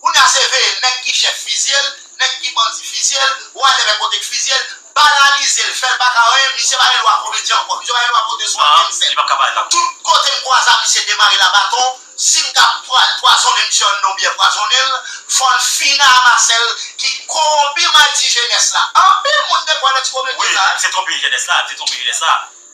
Kounya se veye nèg ki chèf fizyel, nèg ki bandi fizyel, whatever kote k fizyel, banalizel, fèl paka anyen, misye pa gen dwa komedyen ankò, misye pa gen dwa pote swa menm sèl. Tout kotem kwaza misye demare la baton, sim ta pwazone misye anndan byè pwazonel, fòl fini a Marcel ki kowonpi madi jenès la. Anpil moun dekwè nan ti komedyen sa. Wi, misye twonpe jenès la, misye twonpe jenès la.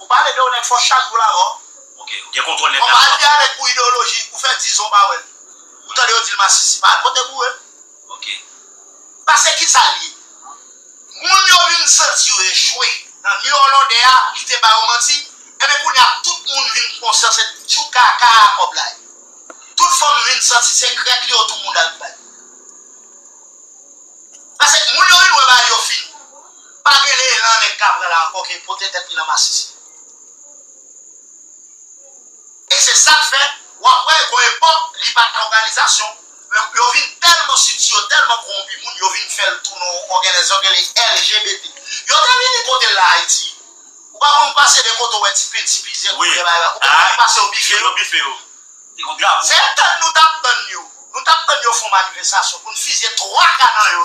Ou pale de yon nèg fò chak jou lavan. Ok ou gen kontwòl nèg la twòp. Konpa al gen avèk pou ideoloji ou fè 10 zan ou pa wèl. Ou tande yo dil masisi pa al kote boure. Ok. Pase kisal ye? Moun yo vin santi yo echwe nan New Orlande a li te ba yo manti enben kounya tout moun vin pran konsyan se tjou kaka a kòb la ye. Tout fanm vin santi se krèk li yo tou moun al bay. Pase moun yo vin wè bagay yo fini. Pa gen le lan neg ka pran la anko ke pote tet li nan masisi. E se sak fe wap we gon epok li pa gen oganizasyon men yo vin telman siti yo telman kowonpi moun yo vin fel tou nan yon ogenezyon kele LGBT. Yo te vini pote l la ayiti. Ou pa konn pase de kote ou we ti penti plize koulè bagay ou pa konn pase yo bife yo. Se tann nou tap tann yo. Nou tap tann yo fon manifestasyon poun fize 3 ka nan yo.